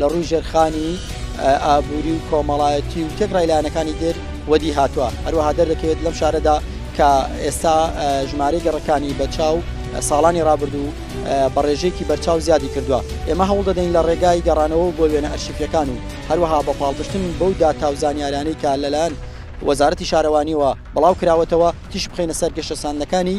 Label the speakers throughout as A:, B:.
A: لە ڕووی ژێرخانی، ئابووری و کۆمەڵایەتی و تێکڕای لایەنەکانی تر وەدی هاتووە. هەروەها دەردەکەوێت لەم شارەدا کە ئێستا ژمارەی گەڕەکانی بە چاو ساڵانی ڕابردوو بە ڕێژەیەکی بەرچاو زیادی کردووە. ئێمە هەوڵ دەدەین لە ڕێگای گەڕانەوە بۆ وێنە ئەرشیفییەکان و هەروەها بە پاڵپشتن بەو داتا و زانیاریانەی کە لەلایەن وەزارەتی شارەوانییەوە بڵاو کراوەتەوە تیشک بخەینە سەر گەشەسەندنەکانی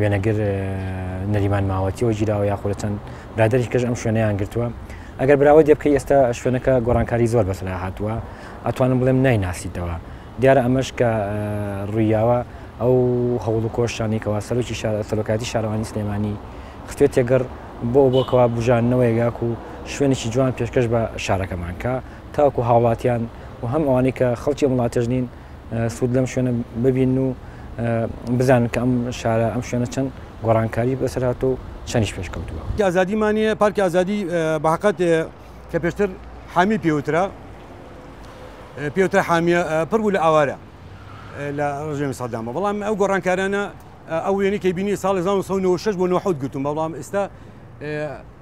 B: وێنەگر نەریمان ماوەتیەوە گیراوە یاخود لە چەند برادری کەش ئەم شوێنیان گرتووە ئەگەر براوە دێ بکە ئێستا شوێنەکە گۆڕانکاری زۆر بەسرا هاتووە ئەتوانم بڵێم نایناسیتەوە دیارە ئەمەش کە ڕوویاوە ئەو هەوڵ و کۆشتانی کەوا سەرۆکی سەرۆکاتی شارەوانی سلێمانی خستێت تێگەڕ بۆ بۆکەوا بژانەوەی گاک و شوێنێکی جوان پێشکەش بە شارەکەمانکە تاکو هاوڵاتیان و هەم ئەوانەی کە خەڵکی وڵاتەژنین سوود لەم شوێنە ببین و بزانن کە ئەم شارە ئەم شوێنە چەند گۆڕانکاری بەسەرهاتۆ و چەنیش پێشکەوتووە ئازادیمانە پارکی
C: ئازادی بەقەت کە پێشتر حامی پێوترا پێوتە حامیە پڕ بوو لە ئاوارە لە ڕژێمی سەدامە بەڵام ئەو گۆڕانکارانە ئەو وێنەی کە بینی ساڵ 1996 بۆ 1970 گوتم بەڵام ئێستا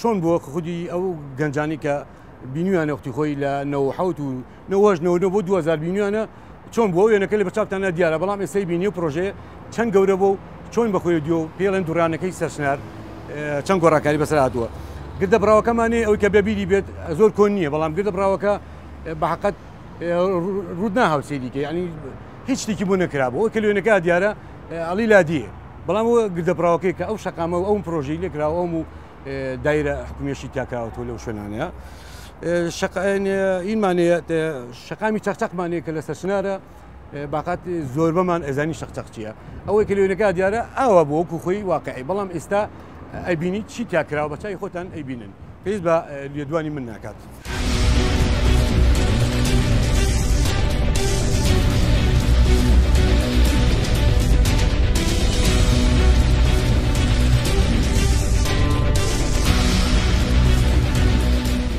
C: چۆن بووە کە خودی ئەو گەنجانی کە بینویانە وەختی خۆی لە نەوە حوت و نەوەش نەوە بۆ 2000 بینویانە چۆن بۆ وێنەکە لە بەچاوتانە دیارە بەڵام ئێسەی بینی و پرۆژێ چەند گەورە بۆ و چۆن بەخۆی دیۆ پێڵێن دوڕانەکەی سەرشنار چەند گۆڕاکاری بەسەر هاتووە گردە بڕاوەکەمانێ ئەوی کە بەبیری بێت زۆر کۆن نییە بەڵام گردە بڕاوەکە بەحقت ڕوود ناهاوسێریکە ینی هیچ شتێکی بۆ نەکرابەوە کە لوێنەکە دیارە ئەڵی لادییە بەڵام ئەوە گردە بڕاوەکەی کە ئەو شەقامە و ئەوم پرۆژەی لێکراوە ئەوم و دایرە حکومیشی تاکراوەتەوە لەو شوێنانەیە ئینمانەیە شەقامی چەقچەقمانەیە کە لە سەرچنارە باقات زۆر بەمان ئەزانی شەقچەقچیە ئەوەی کە لەێنەکە دیارە ئاوا بۆ وەکو خۆی واقعی بەڵام ئێستا ئەبینی چی تاکراوە بەچای خۆتان ئەیبینن پێیز بە لێدوانی من ناکات.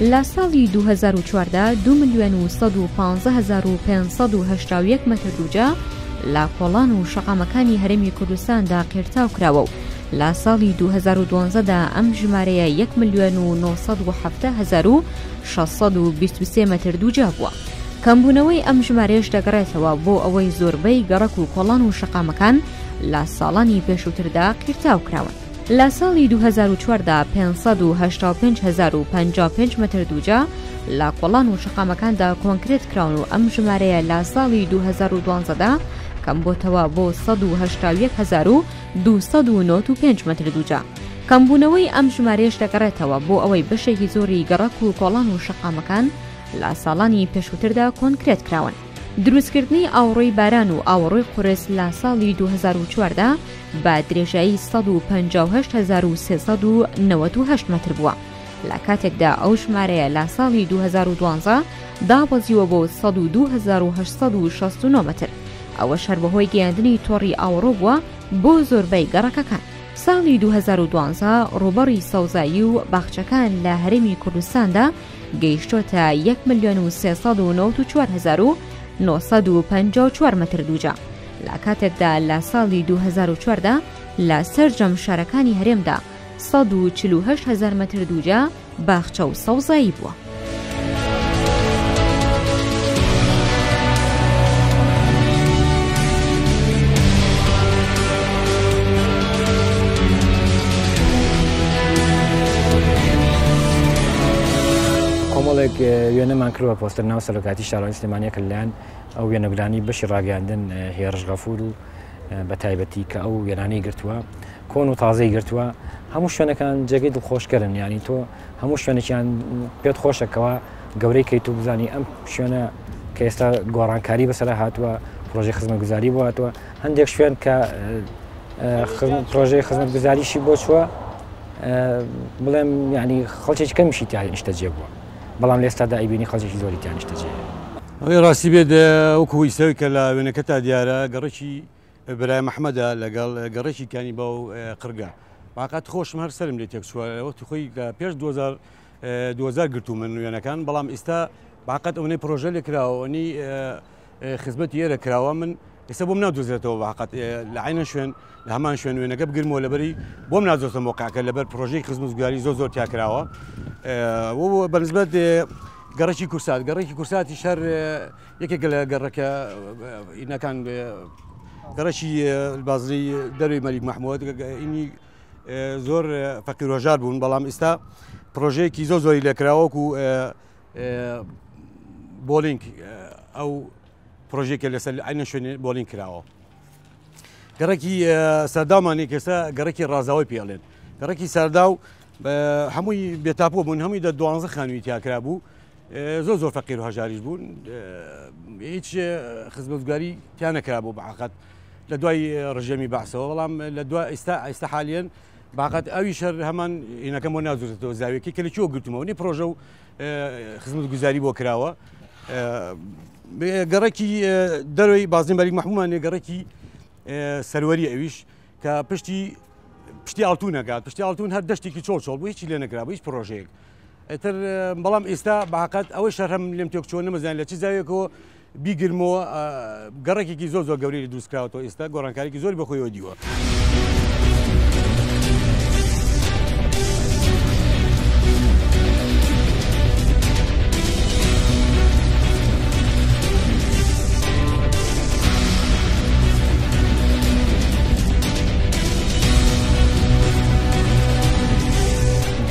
D: لە ساڵی 2014 دو ملیۆن و 1515 مەتر دووجا لە کۆڵان و شەقامەکانی هەرێمی کوردستاندا قێرتاو کراوە و لە ساڵی دوو هەزار و دوازدە دا ئەم ژمارەیە یەک ملیۆن و نۆ سەد و حەفتا هەزار و شەش سەد و بیست و سێ مەتر دووجا بووە. کەمبوونەوەی ئەم ژمارەیەش دەگەڕێتەوە بۆ ئەوەی زۆربەی گەڕەک و کۆڵان و شەقامەکان لە ساڵانی پێشووتردا قیرتاو کراون. لە ساڵی دوو هەزار و چوار دا پێنج سەد و هەشتا و پێنج هەزار و پەنجا و پێنج مەتر دووجا لە کۆڵان و شەقامەکاندا کۆنکرێت کراون و ئەم ژمارەیە لە ساڵی دوو هەزار و دوازدە دا کەمبۆتەوە بۆ سەد و هەشتا و یەک هەزار و دوو سەد و نۆت و پێنج مەتر دووجا. کەمبوونەوەی ئەم ژمارەیەش دەگەڕێتەوە بۆ ئەوەی بەشێکی زۆری گەڕەک و کۆڵان و شەقامەکان لە ساڵانی پێشووتردا کۆنکرێت کراون. دروستکردنی ئاوەڕۆی باران و ئاوەڕۆی قورس لە ساڵی دوو هەزار و چواردە بە درێژایی سەد و پەنجا و هەشت هەزار و سێ سەد و نەوەد و هەشت مەتر بووە، لە کاتێکدا ئەو ژمارەیە لە ساڵی دوو هەزار و دوازدە دابەزیوە بۆ سەد و دوو هەزار و هەشت سەد و شەست و نۆ مەتر. ئەوەش هەر بەهۆی گەیاندنی تۆڕی ئاوەڕۆ بووە بۆ زۆربەی گەڕەکەکان. ساڵی دوو هەزار و دوازدە ڕووبەڕی سەوزایی و باخچەکان لە هەرێمی کوردستاندا گەیشتۆتە یەک ملیۆن و سێ سەد و نەوەد و چوار هەزار و نۆ سەد و پەنجا و چوار مەتر دووجا، لە کاتێکدا لە ساڵی دوو هەزار و چوار دا لە سەرجەم شارەکانی هەرێمدا سەد و چل و هەشت هەزار مەتر دووجا، باخچە و سەوزایی بووە.
B: کۆمەڵێک وێنەمان کردوە پۆستەر ناو سەرۆکاتی شارانی سلێمانەکە لەلایەن ئەو وێنەگرانی بەشی ڕاگەاندن هێڕژ غەفور و بە تایبەتی کە ئەو وێنانەی گرتووە کۆن و تازەی گرتووە هەموو شوێنەکان جێگەی دڵخۆشکەرن ینی تۆ هەموو شوێنێکیان پێت خۆشەکەەوە گەورەی کەیت و بزانی ئەم شوێنە کە ئێستا گۆڕانکاری بەسەر هاتووە پرۆژی خزمە گوزاری بواتوە هەندێک شوێن کە پرۆژەی خزمەت گوزاریشی بۆ چووە بڵێم ینی خەڵکێک کەمیشی تای نیشتە جێ بووە بەڵام لێستا دایبینی خەڵکی زۆری تیانیشتە جێ ئەوەی ڕاستی
C: بێت وەکو هیسەوەی کە لە وێنەکە تا دیارە گەڕێکی برایم ئەحمەدە لەگەڵ گەڕەکی کانی باو قڕگە باقات خۆشم هەر سرم لێ تێکچووە وەختی خۆی لە پێش 2000 گرت و من وێنەکان بەڵام ئیستا باقات ئەوەی پرۆژە لێ کراوەنی خزمەتی ئێرە کراوە من ئێستا بۆم نادۆزێتەوە باقات لە عینە شوێن لە هەمان شوێن وێنەکە بگرمەوە لەبەری بۆم نازۆسە مۆقعکە لەبەر پرۆژەی خزمزگاری زۆ زۆر تیاکراوە بەنسبەت گەڕێکی کورسات گەڕێکی کورساتی شەر یەکێک لە گەڕەکە ئینەکان گەڕەکی بازنەی دەروی مەلیک مححمود ئینی زۆر فەقیرۆژار بوون بەڵام ئیستا پرۆژەیەکی زۆ زۆری لەکراوەک و بۆلینگ ئەو پرۆژێکە لەسەر ئەینە شوێن بۆلین کراوە گەڕێکی سەرداومانی کەسە گەڕێکی ڕازاوی پێڵێن گەڕێکی سەرداو هەمووی بێتاپۆ بوون هەمووی دە دوانزە خانووی تیاکرا بوو زۆر زۆر فەقیر و هەژاریش بوون هیچ خزمەتگواری تیا نەکرا بۆ بەعقەت لە دوای ڕژێمی باسەوە بەڵام لە دو ئێستا ئایستا حالیان باقەت ئەوی شەر هەمان ئینەکەم بۆ نازورێتەوە زاویەکی کە لە چۆ گرتمەوە نی پرۆژە و خزمەت گوزاری بۆ کراوە گەڕێکی دەروی بازنی بەریک محمومان نێگەڕێکی سەروەری ئەویش کە پشتی پشتی ئاڵتون نەگات پشتی ئاڵتون هەر دەشتێکی چۆڵ چۆڵ بوو هیچی لێ نەکرا بە هیچ پرۆژەیەک ئەتر بەڵام ئێستا بەقەت ئەوەی شەرم لێم تێک چۆن نەمەزان لە چ زاوێکەوە بیگرمەوە گەڕێکێکی زۆر زۆر گەوری دروستکراوەوە ئێستا گۆڕانکاریی زۆری بەخۆیەوە دیوە.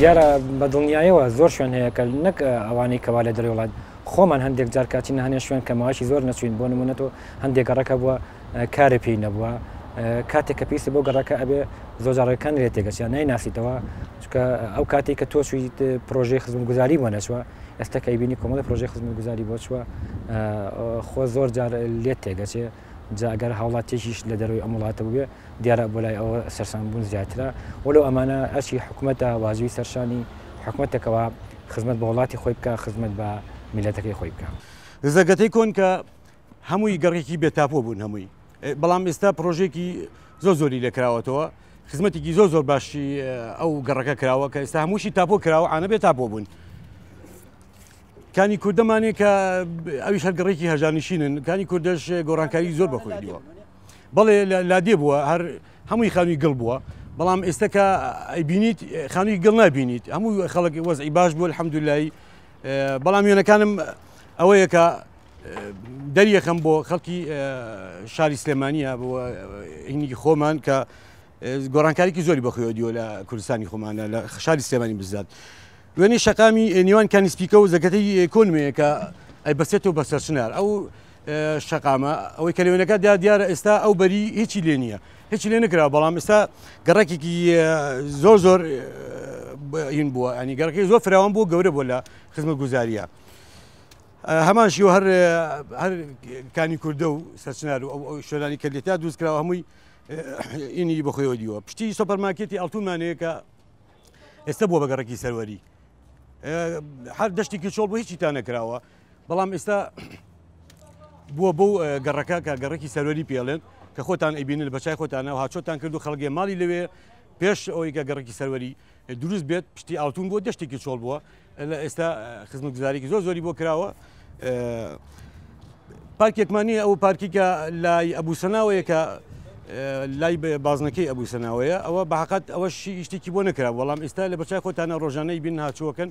B: دیارە بە دڵنیایەوە زۆر شوێن هەیە کە نەک ئەوانەی کەوا لە دەری وڵات خۆمان هەندێک جار کاچی نهانێ شوێن کەمەواشی زۆر نەچوین بۆ نمونەتەوە هەندێک گەڕەکە بووە کارە پێی نەبووە کاتێک کە پیسی بۆ گەڕەکە ئەبێ زۆجارەکان لێ تێگەچیان نای ناسیتەوە چکە ئەو کاتێک کە تۆ شویت پرۆژەی خزم گوزاری بۆ نەچوە ئێستا کە ئەیبینی کۆمەڵی پرۆژەی خزمەتگوزاری بۆ چووە خۆ زۆر جار لێت تێگەچێ جاگەر هاوڵاتێکیش لە دەروی ئەم وڵاتە بووێ دیارە بۆ لای ئەوە سەرسان بوون زیاترە وەلو ئەمانە ئەرچی حکوومەتە واجبی سەرشانی حکوومەتەکەەوە خزمەت بە وڵاتی خۆی بکە خزمەت بە میلەتەکەی خۆی بکە. زەگەتەی کۆن
C: کە هەمووی گەڕیکی بێ تاپۆ بوون هەمووی بەڵام ئێستا پرۆژێکی زۆ زۆری لێکراوەتەوە خزمەتێکی زۆ زۆر باشی ئەو گەڕەکە کراوە کە ئێستا هەمووشی تاپۆ کراوە ئاە بێ تاپۆ بوون کانی کوردەمانێ کە ئەویش هەرگەڕێکی هەژانشینن کانی کوردش گۆڕانکاری زۆر بەخۆیدیوە بەڵێ لادێ بووە هەر هەمووی خانووی گڵ بووە بەڵام ئێستاکە ئەیبینیت خانووی گڵ نبینیت هەموو خەڵک وەزعی باش بوو حەمدولایی بەڵام وێنەکانم ئەوەیە کە دەریەخەم بۆ خەڵکی شاری سلێمانیە بۆ ئینگی خۆمان کە گۆڕانکارێکی زۆری بەخۆیەوە دیوە لە کوردستانی خۆمانە لە خشاری سلێمانی بزات وێنی شەقامی نیوان کانیسپیکە و زەکەتەی کۆنمەیە کە ئەی بەسێت و بەسەرچنار ئەو شەقامە ئەوەی کە لەوێنەکە دا دیارە ئێستا ئەو بەری هیچی لێ نییە هیچی لێ نکرا بەڵام ئێستا گەڕێکێکی زۆر زۆر هین بووە ئەنی گەڕەکەی زۆر فراوان بوو گەورە بۆ لە خزمە گوزاریە هەمان شیوە هەر هەر کانی کوردە و سەرچنار و ئەو شوێنانی کە لێتیا دروست کراوە هەمووی ئینی بەخۆیەوە دیوە پشتی سۆپەرماکێتی ئەڵتونمانەیە کە ئێستا بووە بەگەڕێکی سەروەری هەر دەشتێکی چۆڵ بۆ هیچی تا نەکراوە بەڵام ئێستا بووە بۆ گەڕەکە کە گەڕێکی سەروەری پێڵێن کە خۆتان ئەبینن بەچای خۆتانەوە هاچۆتان کرد و خەڵگێ ماڵی لەوێ پێش ئەوەی گە گەڕێکی سەروەری دروست بێت پشتی ئاوتون بۆ دەشتێکی چۆڵ بووە لە ئێستا خزمە گوزارێکی زۆر زۆری بۆ کراوە پارکێکمانی ئەو پارکیکە لای ئەبوسەناوەیە کە لای بازنەکەی ئەبوو سەناوەیە ئەوە بەحقات ئەوە شتێکی بۆ نەکرا بەڵام ئێستا لە بەچای خۆتانە ڕۆژانەی بین هاچووەکەن